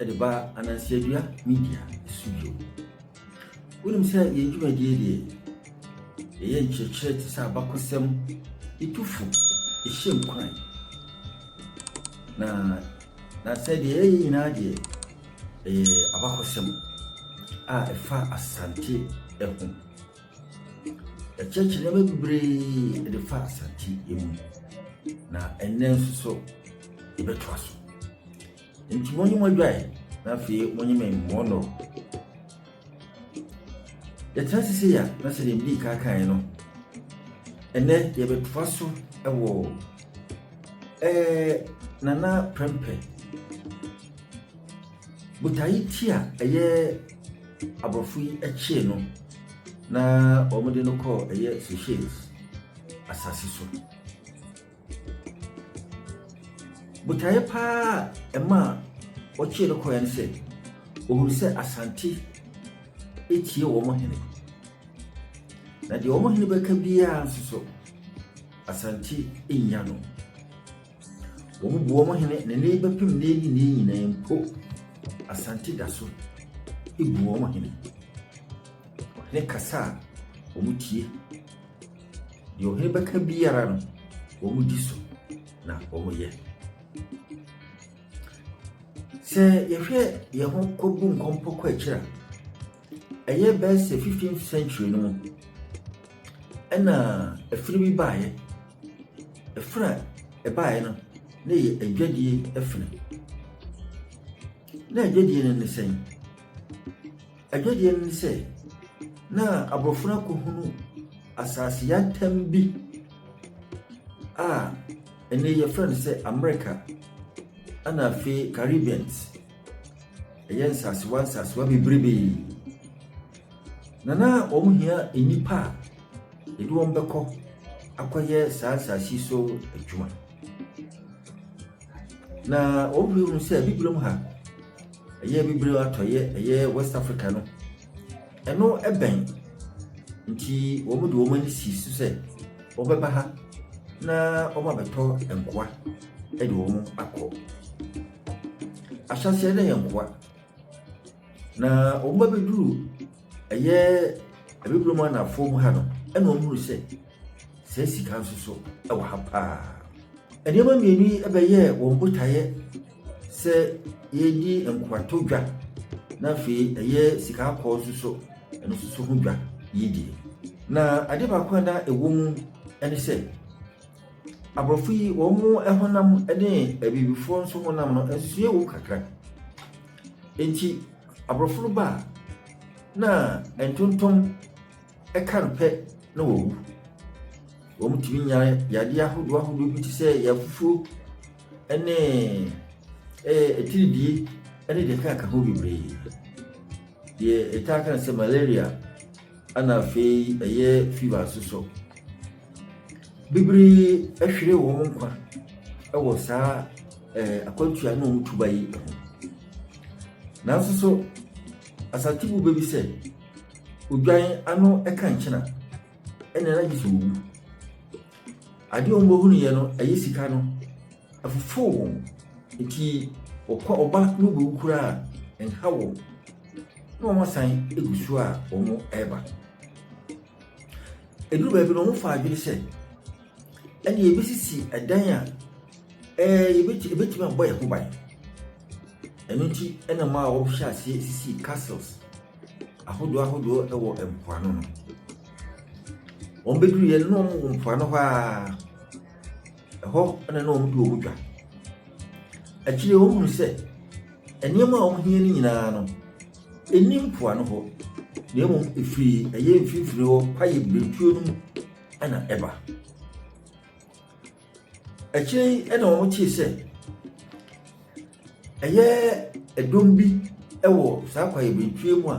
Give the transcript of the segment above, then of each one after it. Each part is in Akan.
Ɛde ba Anansiadua Media so bio. Wonim sɛ yɛn dwumadie deɛ yɛyɛ nkyerɛkyerɛ te sɛ abakɔsɛm etufo ɛhyɛ nkuran na na sɛ deɛ yɛyɛ nyinaa deɛ ɛyɛ abakɔsɛm a ɛfa asante ɛho Yɛkyerɛkyerɛ nneɛma bebree de fa asante mu, na ɛnnɛ nso so yɛbɛtoa so. Nti mo ne mo adwae na afei mo ne me mmoa no. Yɛtena sisi yɛ na sɛ deɛ mbii kaakan no, ɛnnɛ yɛbɛtoa so wɔ ɛɛ nana prɛmpɛ Botae ti a ɛyɛ Aborɔfo yi kyee no na wɔde no kɔɔ ɛyɛ Seychelles asase so. Botaeɛ paa a ɛma wɔkyee no kɔeɛ no sɛ wɔhunu sɛ Asante tie wɔn hene. Na deɛ wɔn hene bɛka biara nso so, Asante nnya no. Wɔboa wɔn hene ne ne bɛpem nnɛ yi nnɛ nyinaa mpo. Asante da so bu wɔn hene. Ɔhene kasa a, wɔtie. Deɛ ɔhene bɛka biara no, wɔdi so na wɔyɛ. Sɛ yɛhwɛ yɛn ho kɔbu nkɔmpɔ kɔ akyiri a, ɛyɛ bɛyɛ sɛ 15th century no mu ɛna afiri bi baeɛ Ɛfiri a ɛbaeɛ no na ɛyɛ adwadie ɛfiri. Na adwadie no ne sɛn? Adwadie no ne sɛ na aborɔfo no akɔhunu asase yɛatam bi a ɛnɛ yɛfrɛ no sɛ Amerika ɛna afei Caribbeans. ɛyɛ nsasewa nsasewa bebrebe na na wɔn hia nnipa a yɛde wɔn bɛkɔ akɔyɛ saa nsase so adwuma na wɔn hwɛ mu sɛ bibire mu ha ɛyɛ bibire atɔyɛ ɛyɛ west africa no ɛno ɛbɛn nti wɔn de wɔn ani si so sɛ wɔbɛba ha na wɔn abɛtɔ nkoa ɛde wɔn akɔ. Ahyɛaseɛ na yɛ nkoa na wɔn abɛduru ɛyɛ abibirem anafoɔ mu ha no ɛna wɔn hunu sɛ sɛ sika nso so ɛwɔ ha paa nneɛma mmienu yi ɛbɛyɛ wɔn botaeɛ sɛ yɛredi nkoato dwa na afei ɛyɛ sika akɔɔ nso so ɛno nso so ho dwa yɛdie na ade baako a na ɛwɔ mu ɛne sɛ Aborɔfo yi, wɔn honam ne Abibifoɔ nso honam no, nsusuiɛ wom kakra. Enti, Aborɔfo no ba a, na ntontom ka no pɛ na wɔwu. Wɔtumi nya yadeɛ ahodoɔ ahodoɔ bi te sɛ yafufuo ne ɛɛ atiridie ne deɛ ɛkeka ho bebree. Deɛ yɛtaa ka no sɛ malaria, ɛna afei ɛyɛ fever nso so. Bebree ahwere wɔn nkwa wɔ saa ɛɛ akwantuo a ɛne wɔn retu ba yi ho. Nanso so, Asante bu bɛ bi sɛ, odwan ano ka nkyene a, ɛnna na gye sɛ ɔwu. Adeɛ a wɔhunuiɛ no, ɛyɛ sika no, ɛfofoo wɔn. Enti, wɔkɔ wɔba ne wɔbɛwu koraa a, ɛnha wɔn, na wɔasan gu so a wɔreba. Ɛduru baabi no, wɔfaa adwene sɛ ɛnna yɛbɛsisi dan a ɛɛ yɛbɛtumi yɛbɛtumi abɔ yɛn ho ban. Ɛno nti na maa wɔhyɛ aseɛ sisii castles ahodoɔ ahodoɔ wɔ mpoano no. Wɔbɛduruiɛ no, na wɔwɔ mpoano hɔ ara. Ɛhɔ na na wɔdi wɔn dwa. Akyire yi, wɔhunuu sɛ nneɛma a wɔhia no nyinaa no, Enni mpoano hɔ, na mmom efi ɛyɛ mfimfini hɔ kwaeɛ birentuo no mu na ɛba. Akyire yi na wɔtee sɛ ɛyɛ ɛdɔm bi wɔ saa kwaeɛ birentuo mu a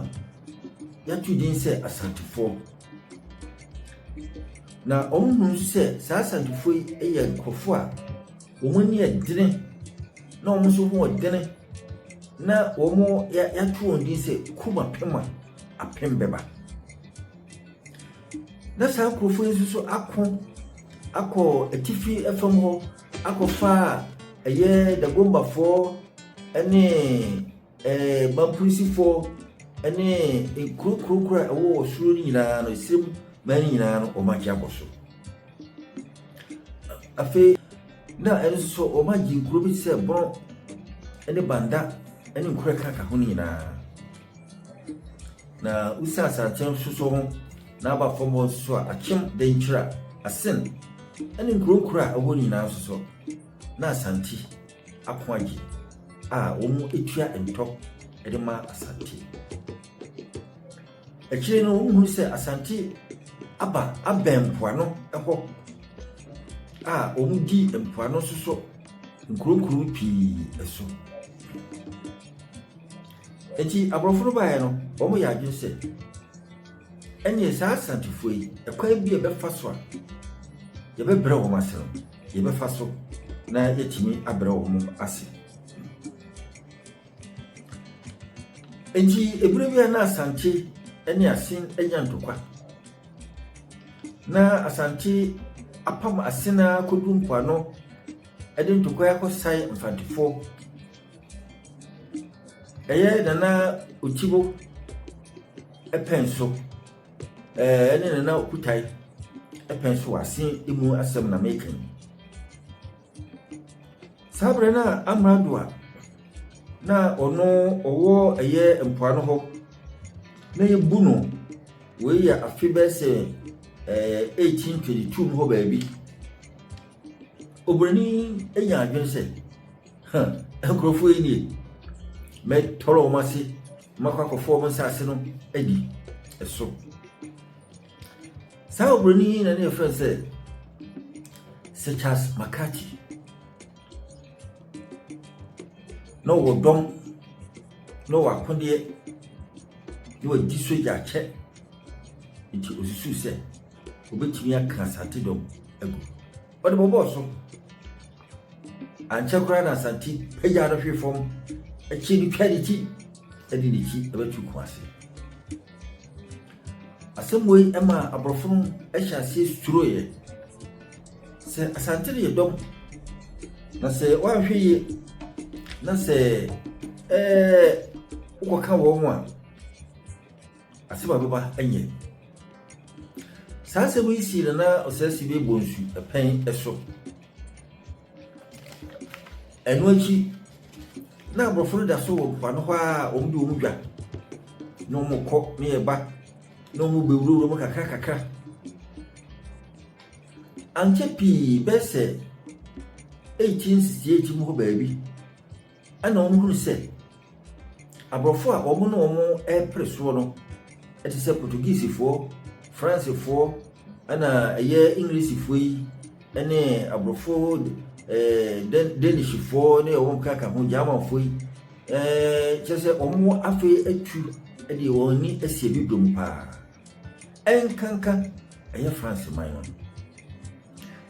yɛato din sɛ Asantefoɔ. Na wɔhunu nso sɛ saa Asantefoɔ yi yɛ nkurɔfoɔ a Wɔn ani yɛ dene, na wɔn nso ho yɛ dene, na wɔato wɔn din sɛ kurom apem a apem bɛba. Na saa nkurɔfoɔ yi nso ako akɔ atifi fam hɔ akɔfa ɛyɛ dagombafoɔ ne Ɛɛ, m'apolisifoɔ ne nkuro kurokuro a ɛwɔ wɔ soro no nyinaa no, esirem man no nyinaa no, wɔn agye abɔ so. Afei, na ɛno nso so, wɔn agye nkuro bi te sɛ Bono ne Banda ne nkuro a ɛkaka ho no nyinaa. Na Usa Asante nso so ho, na aba fam hɔ nso so a, Akyem, Denkyira, Asen ne nkuro nkuro a ɛwɔ nyinaa nso so, na Asante. Akoagye a wɔtua ntɔ de ma Asante. Akyire no wɔhunu sɛ Asante aba abɛn mpoano hɔ a wɔdi mpoano nso so nkuronkuro pii so. Enti aborɔfo no baeɛ no, wɔyɛ adwene sɛ ɛneɛ saa Asantefoɔ yi, ɛkwan bi a yɛbɛfa so a yɛbɛbrɛ wɔn ase no, yɛbɛfa so na yɛtumi abrɛ wɔn ase nti ebere bi a na asante ne asen anya ntokwa na asante apam asen a kodu mpoano de ntokwa akɔsae mfantefoɔ ɛyɛ nana otibo pɛn so. ɛne nana okutae ɛpɛn so ase emu asɛm na meka yi saa berɛ no a amrado a na ɔno ɔwɔ ɛyɛ mpoano hɔ na yɛbu no wei yɛ afe bɛɛ sɛ ɛɛ 1822 mu hɔ baabi obroni anya adwene sɛ Huh, nkurɔfoɔ yi nie. Mɛtɔrɔ wɔn ase, mɛkɔ akɔfɔ wɔn nsase no adi. Ɛso. Saa oburoni yi na ne yɛfrɛ no sɛ Sechas Makati. Na ɔwɔ dɔm, na ɔwɔ akodeɛ, na wadi sogya akyɛ. Nti osusu sɛ obetumi aka asate dɔm agu. Ɔde bɔbɔɔ so. Ankyɛ koraa na Asante pagyaa no hwee fam, akyiri no twaa ne ti de n'akyi bɛto kɔn ase. Asɛm wei ma aborɔfo no hyɛ aseɛ suroeɛ. Sɛ Asante no yɛ dɔm, na sɛ woanhwɛ yie na sɛ ɛɛ wokɔka wɔn a, Asɛm a ɛbɛba nyɛ. Saa asɛm yi sii no na ɔsɛesi bi bɔ nsu pɛn so. Ɛno akyi, na aborɔfo no da so wɔ mpoano hɔ a wɔde wɔn dwa na wɔkɔ ne ɛba na wɔbɛwurawura mu kakra kakra. Ankyɛ pii bɛyɛ sɛ 1868 mu hɔ baabi Ɛna wɔn hunu sɛ aborɔfo a wɔn ne wɔn repere soɔ no te sɛ Portuguesefoɔ, Fransefoɔ, ɛna ɛyɛ Englishfoɔ yi ne aborɔfo ɛɛ Danishfoɔ ne wɔn kaka ho Germanfoɔ yi ɛɛ kyerɛ sɛ wɔn afei atu de wɔn ani asi ebi dom paa. ɛnkanka ɛyɛ France man no.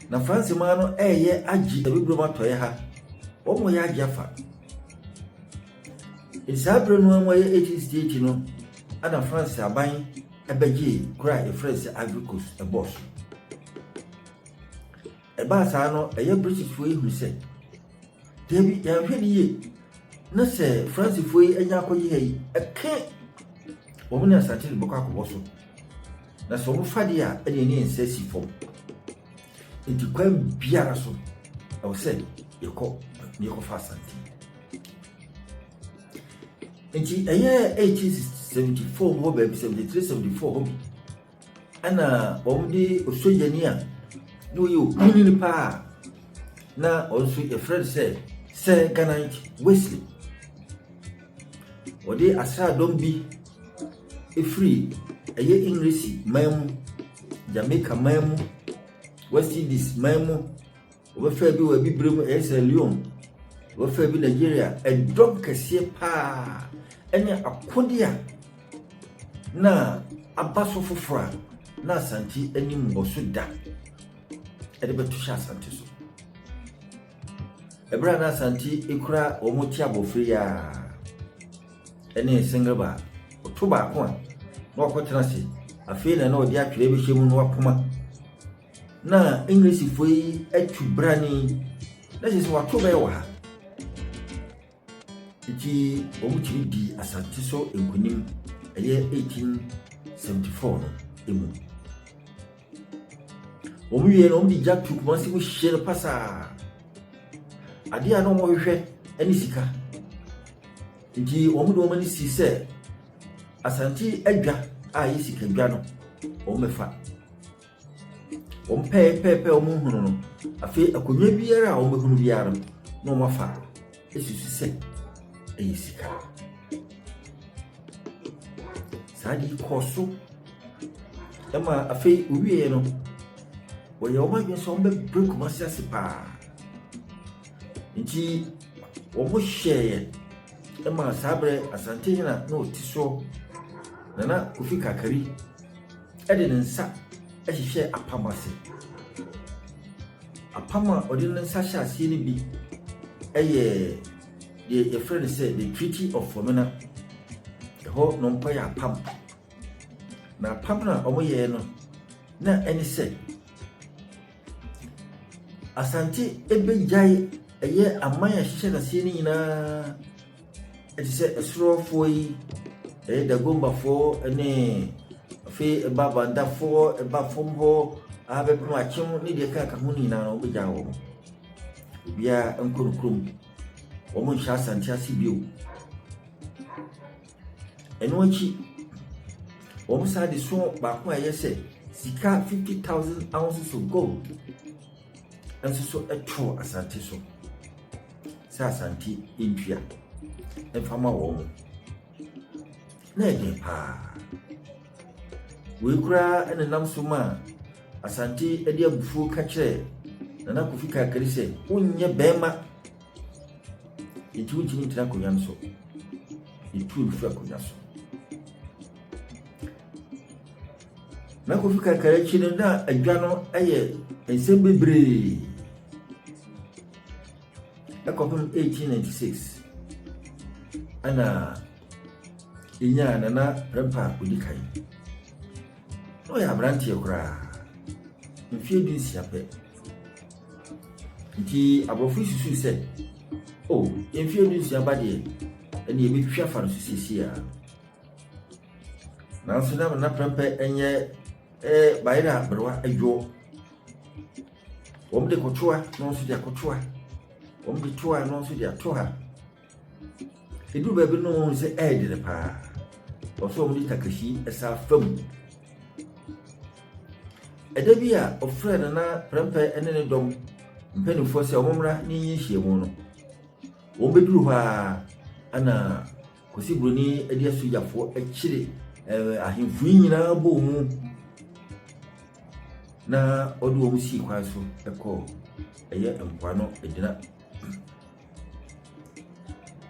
Na France man no ɛyɛ agye abibirem atɔeɛ ha. Wɔn yɛ agye afa. Saa berɛ no mu ayɛ 1868 no ɛna France aban ɛbɛgyee kura a yɛfrɛ sɛ Ivory Coast ɛbɔɔ so. Ɛbaa saa no, ɛyɛ Britishfoɔ yi hunu sɛ, Dabi, yɛanhwɛ no yie na sɛ Francefoɔ yi anya akɔgye ha yi, ɛke wɔn ne asante no bɛkɔ akɔbɔ so. Na sɛ wɔfa deɛ a, ɛne ɛne yɛn nsa asi fam. Nti kwan biara so, ɛwɔ sɛ yɛkɔ na yɛkɔfa asante. Nti ɛyɛ 1874 hɔ baabi 73 74 hɔ bi Ɛna wɔde osogyani a na ɔyɛ okunini paa na ɔno nso yɛfrɛ no sɛ sɛ ganant wesley wɔde asraadɔm bi firi ɛyɛ englisi man mu jamaica man mu west indies man mu Wɔbɛfaa bi wɔ Abibirem, ɛyɛ Sierra Leone. Wɔbɛfaa bi Nigeria. Ɛdɔm kɛseɛ paa ne akode a na aba so foforɔ a na Asante ani mmɔ so da de bɛto hyɛ Asante so. Ɛberɛ a na Asante kura wɔn ti abɔfra yi a ne single bar ɔto baako a na wakɔtena ase afei na na ɔde atwerɛ bɛhyɛ mu na wapoma na Englishfoɔ yi atu brane yi na kyerɛ sɛ wɔato bɛyɛ wɔ ha nti wɔtumi di asante so nkonim ɛyɛ 1874 no emu wɔn wie no wɔn de gya tu kumase mu hyɛ no pasaa adeɛ a na wɔhwehwɛ ne sika nti wɔn de wɔn ani si sɛ asante adwa a yɛ sika dwa no wɔn bɛfa. Wɔpɛe pɛe pɛe a wɔhunuu no, afei akonnwa biara a wɔbɛhunu biara no, na wɔafa susu sɛ ɛyɛ sika. Saa ade yi kɔɔ so ma afei wɔwieeɛ no, wɔyɛɛ wɔn adwene sɛ wɔbɛbrɛ Kumasi ase paa. Nti wɔhyɛeɛ maa saa berɛ Asantehene a na ɔte soɔ, Nana Kofi Kakari, de ne nsa hyehyɛɛ apam ase. Apam a ɔde ne nsa hyɛɛ aseɛ no bi yɛ deɛ yɛfrɛ no sɛ the treaty of Formina. Ɛhɔ na wɔkɔyɛ apam. Na apam no a wɔyɛɛ no na ɛne sɛ Asante bɛgyae ɛyɛ aman a ɛhyehyɛ no aseɛ no nyinaa te sɛ Ɛsorowafoɔ yi, ɛyɛ Dagombafoɔ ne afei ɛba Bandafoɔ, ɛba fam hɔ ara bɛpem Akyem ne deɛ ɛkeka ho no nyinaa wɔbɛgyae wɔn. Obiara nkɔ ne kurom. Wɔnhyɛ Asante ase bio. Ɛno akyi, wɔsan de sɔɔ baako a ɛyɛ sɛ sika fifty thousand ounces of gold nso so too asase so sɛ Asante ntua mfa ma wɔn. Na ɛden paa. Wei koraa na nam so maa Asante de abufuo ka kyerɛɛ Nana Kofi Kakari sɛ wonyɛ bɛrima Enti wontumi ntena akonnwa no so. Yɛtu no firi akonnwa so. Na kofi kakra akyi no na adwa no yɛ nsɛm bebree. Ɛkɔpem 1896 ɛna ɛnyaa nana rɛmpa odi kan. Na ɔyɛ aberanteɛ koraa. Mfeɛ du nsia pɛ Nti aborɔfo yi susuu sɛ, O, yɛn mfeɛ du-nsia ba deɛ, ɛnde yɛbɛtwitwa afa no so seesei ara. Nanso na Nana Prɛmpɛ nyɛ eh, bayerɛ a berewa adwoɔ. Wɔde kɔtoa na ɔno nso de akɔtoa. Wɔde toa na ɔno nso de atoa. Ɛduru baabi no wɔn sɛ ɛredi no paa. Wɔsɛ wɔn de takahyi ɛsa fa mu. Ɛda bi a ɔfrɛ nana prɛmpɛ ne ne dɔm mpanimfoɔ sɛ wɔn mmra ne nyɛ nhyiamu no. Wɔn bɛduru hɔ ara ɛna Kwasi Broni de asogyafoɔ akyire ɛɛ ahemfo yi nyinaa bɔ wɔn mu na ɔde wɔn sii kwan so ɛkɔɔ ɛyɛ mpoano ɛgyina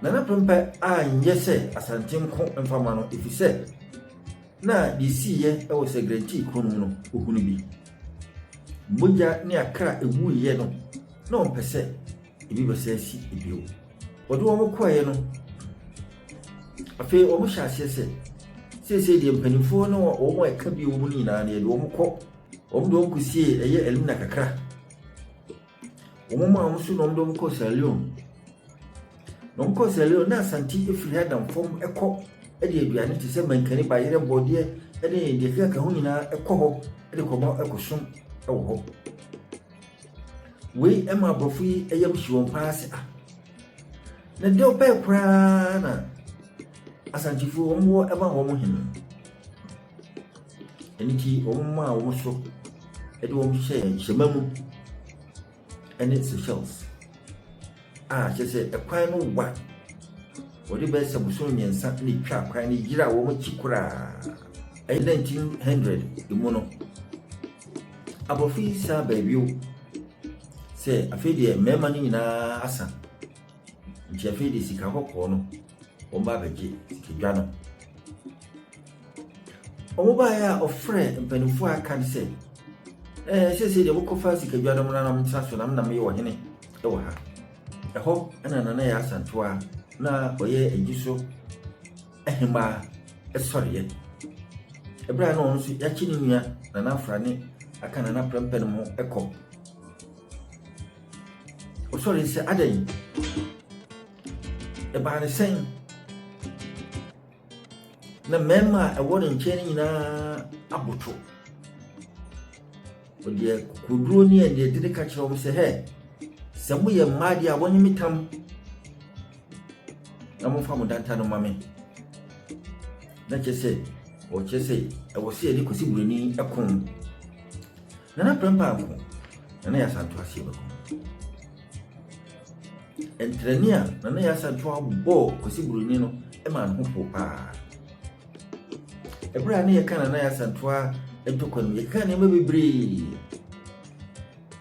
Nana Prempeh anyɛ sɛ Asante nko mfa mma no efisɛ na deɛ ɛsiiɛ wɔ Sɛgrɛntii kuro no mu no, ɔhunu bi. Mogya ne akra a ɛwuiɛ no, na ɔmpɛ sɛ ebi bɛsɛ asi bio. Wɔde wɔn kɔeɛ no, afei wɔhyɛ aseɛ sɛ seesei deɛ mpanimfoɔ ne wɔn a ɛka bio mu no nyinaa no yɛde wɔn kɔ wɔn de wɔn kɔsie ɛyɛ Elmina kakra Wɔn maa wɔn so na wɔde wɔn kɔɔ Sierra Leone. Na wɔn kɔɔ Sierra Leone na Asante efiri ha nam fam kɔ de aduane te sɛ mankani, bayerɛ, bɔdeɛ ne deɛ ɛkeka ka ho nyinaa kɔ hɔ de kɔma ɛkɔsom wɔ hɔ. Wei ma aborɔfo yi yam hye wɔn paa sɛ ah na deɛ ɔpɛɛ koraa na asantefoɔ wɔn wɔ ma wɔn hene. Ɛno nti, wɔmaa wɔn so de wɔn hyɛɛ hyɛmma mu ne Seychelles a kyerɛ sɛ ɛkwan no wa. Wɔde bɛyɛ sɛ bosom mmiɛnsa na ɛtwa kwan no yera wɔn akyi koraa. Ɛyɛ 1900 mu no, aborɔfo yi san baa bio sɛ afei deɛ mmarima no nyinaa asa nti afei deɛ sika kɔkɔɔ no Wɔn ba bɛgye sikadwa no. Wɔn baeɛ a ɔfrɛ mpanimfoɔ a aka no sɛ, ɛɛ sese deɛ mokɔfa sikadwa no mmra na mtra so na mena meyɛ ɔhene wɔ ha. Ɛhɔ na nana yɛ asantewa na ɔyɛ agyi so ahemmaa sɔreɛ. Ɛberɛ a na ɔno nso yɛakye ne nua nana afra ne aka nana prɛmpɛ no ho kɔ. Ɔsɔre sɛ adɛn? Ɛbaa no sɛn? Na mmarima a ɛwɔ ne nkyɛn no nyinaa aboto. Ɔde kokoduro ne aniɛdene ka kyerɛ wɔn sɛ, hɛ, sɛ moyɛ mmaa deɛ a wɔnye me tam na momfa mo danta no ma me. Na kyerɛ sɛ, wɔkyerɛ sɛ ɛwɔ sɛ yɛde kɔsi buroni ɛko. Na na prɛmpa ako, na na yɛ asanto aseɛ bɛko. Ntrɛni a Nana Yaa Asantewaa bɔɔ Kwesi Broni no maa ne ho pow paa. Ɛberɛ a ne yɛka Nana Yaa Asantewaa ntɔkwa no, yɛka nneɛma bebree.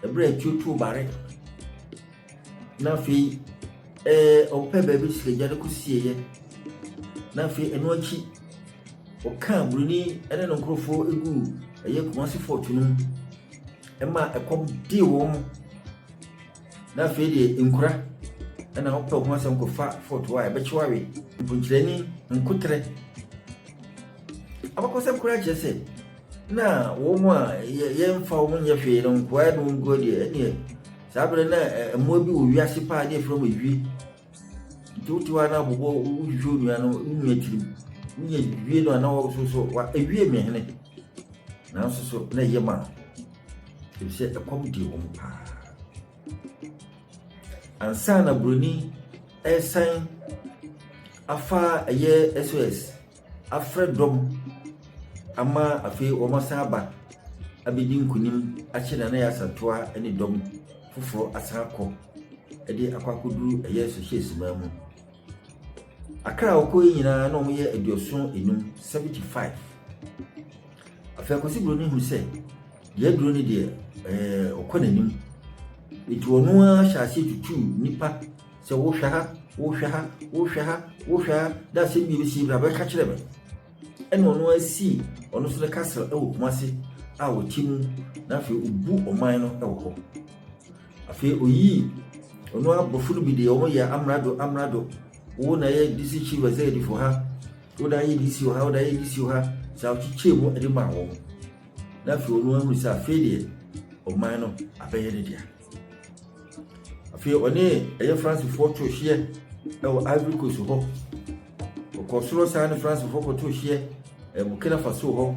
Ɛberɛ a tuo too bare na afei ɛɛ ɔpɛ baabi sikagya no kɔsieeɛ na afei ɛno akyi ɔka Broni ne ne nkurɔfoɔ gu ɛyɛ Kumasi fort no mu ɛma ɛkɔm dee wɔn. na afei deɛ nkura ɛna wopɛ ho asɛm kɔfa foto a ɛbɛkyew awe mponkyerɛni nkoterɛ abakɔsɛm koraa kyerɛ sɛ na wɔn mu a yɛmfa wɔn nyɛ hwee no nkoa no nkoa deɛ ɛneɛ saa berɛ na mmoa bi wɔ wiase paa ne ɛfrɛ mu ewie Nti wote hɔ a na bobɔ wohwehwɛ onua no wo nua tirim wonya wie no a na wɔso so wa ewie me hene nanso so na ɛyɛ ma ɛfiri sɛ ɛkɔm di wɔn paa ansa na buroni ɛresan afa ɛyɛ sos afrɛ dɔm ama afei wɔasan aba abɛdi nkunim akyere Nana Yaa Asantewaa ne dɔm foforɔ asan akɔ de akɔ akɔduru ɛyɛ Sohyɛɛsi man mu. Akra a wɔkɔ yi nyinaa na wɔyɛ aduɔson enum, seventy five. Afei Akwasi Buroni hu sɛ deɛ aduro no deɛ ɛɛ ɔkɔ n'anim. Nti ɔno ara hyɛ aseɛ tutuu nnipa Sɛ wohwɛ ha, wohwɛ ha, wohwɛ ha, wohwɛ ha, na asɛm bi bɛsi bra bɛka kyerɛ me. Ɛna ɔno asii ɔno nso ne castle wɔ Kumasi a ɔte mu na afei ɔbu ɔman no wɔ hɔ. Afei ɔyii ɔno abɔfo no bi deɛ wɔn yɛ amrado amrado wo na yɛ DC chief executive wɔ ha wo na yɛ DC wɔ ha wo na yɛ DC wɔ ha saa ɔkyekyɛ mu de maa wɔn na afei ɔno ahunu sɛ afei deɛ ɔman no abɛyɛ ne dea. afei ɔne ɛyɛ fransefoɔ to hyeɛ ɛwɔ ivory coast hɔ ɔkɔ soro saa ne fransefoɔ kɔto hyeɛ ɛɛ burkina faso hɔ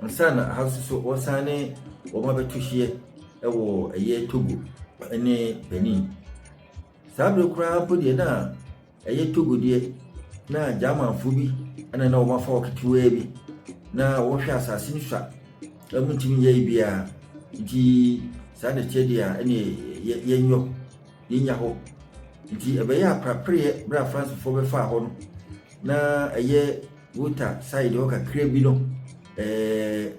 nsa na aha nso so wɔsan ne wɔn abɛto hyeɛ ɛwɔ ɛyɛ togo ɛne benin saa bere koraa mpo deɛ na Ɛyɛ Togo deɛ, na Germanfoɔ bi na na wɔn afa wɔ ketewaa bi, na wɔhwɛ asase no sua, na wɔntumi nyɛ biara. Nti saa na ɛkyɛ deɛ a ɛne yɛnyɔ, yɛnya hɔ. Nti ɛbɛyɛ aprapereɛ berɛ a Francefoɔ bɛfaa hɔ no, na ɛyɛ Volta side hɔ kakra bi no, ɛɛ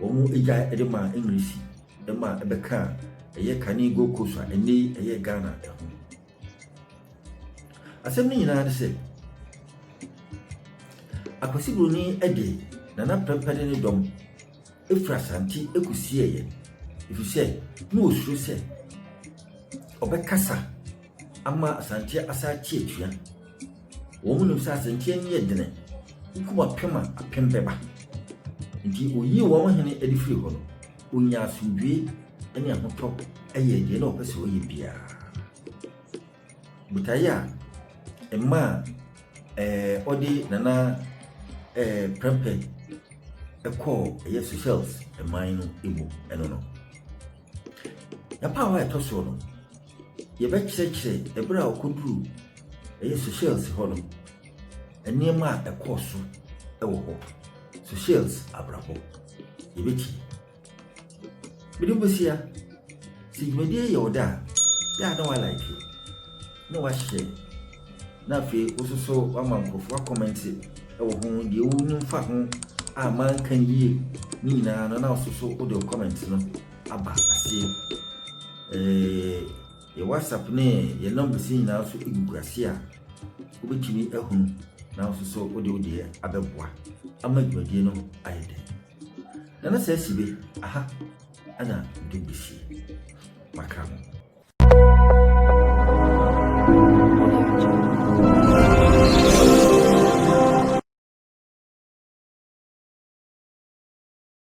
wɔn gya de maa Englisi, ɛma ɛbɛkaa ɛyɛ kane Gold Coast a ɛnɛ yi ɛyɛ Ghana ɛho. Asɛm no nyinaa ne sɛ, Akwasi Broni de Nana Prɛmpɛ ne ne dɔm firi Asante kɔsieeɛ ɛfiri sɛ na wɔsuro sɛ ɔbɛkasa ama Asanteɛ asan ate atua. Wɔnim sɛ Asanteɛ ani yɛ dene, wokum apem a, apem bɛba. Nti wɔyii wɔn hene de firii hɔ no, Onya asomdwoe ne ahotɔ yɛ deɛ na ɔpɛ sɛ ɔyɛ biara. Botaeɛ a ɛma a ɛɛ ɔde Nana ɛɛ Prempeh kɔɔ ɛyɛ Seychelles man no mu no no. N'apaawa a ɛtɔ soɔ no, Yɛbɛkyerɛkyerɛ bere a ɔkɔduruu ɛyɛ Seychelles hɔ no, nneɛma a ɛkɔɔ so wɔ hɔ, Seychelles abrabɔ. Yɛbɛtie. Mede Bosia, sɛ dwumadie yɛ ɔda a, yɛ a na walike, na wahyɛ, na afei wo nso so wama nkurɔfoɔ akɔmɛnte wɔ ho, deɛ wonim fa ho a manka no yie ne nyinaa no, na wo nso so wode wo kɔmɛnte no aba aseɛ. Ɛɛ yɛ WhatsApp ne yɛ numbers nyinaa nso gugu ase a wobɛtumi ahunu na nso so wode wo deɛ abɛboa ama dwumadie no ayɛ dɛ. Na na saa si be aha ɛna de bɛsi makra mo.